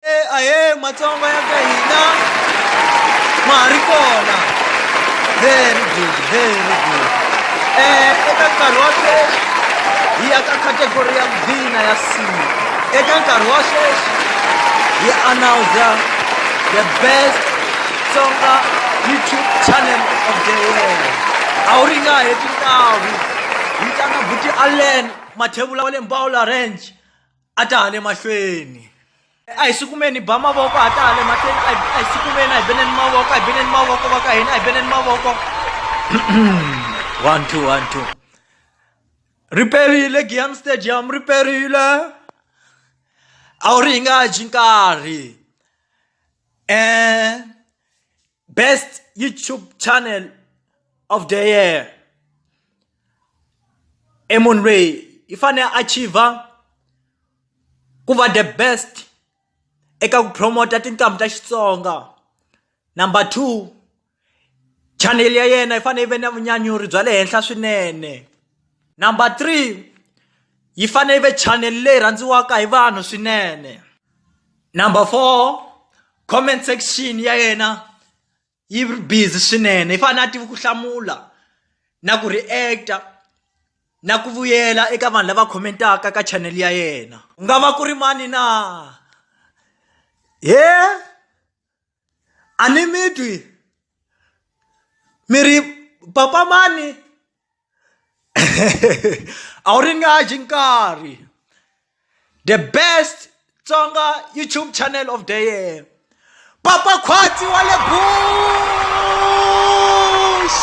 Eh, aye matsongo ya ka hina ma ha ri kona very good very good um eka nkarhi wa sweswi hi ya ka category ya vina ya sima eka nkarhi wa sweswi hi announsa the best tsonga youtube channel of the year a wu ri nga heti ntavu yi tlanga buti allen mathevula wa le mbawula ranch a ta ha le mahlweni a hi swi kumeni hi ba mavoko a ta ha le mahlweni a hi swi kumeni a hi beneni mavoko a hi beneni mavoko va ka hina a hi beneni mavoko one two one two riperile giam stadium riperile a wu ri hi nga dyi nkarhi um best youtube channel of the year i munhu loyi i fanele a achiever ku va the best eka ku promota tintambu ta xitsonga number two chanele ya yena yi fanele yi ve na vunyanyuri bya le henhla swinene Number three yi fanele yi ve channel leyi rhandziwaka hi vanhu swinene number four comment section ya yena yi ri busy swinene yi fanele a tivi ku hlamula na ku react-a na ku vuyela eka vanhu lava commentaka ka channel ya yena ku nga va ku ri mani na he a ni mi twi mi ri papa mani a wu ringaneji nkarhi the best tsonga youtube channel of the year papa khwatsi wa le bush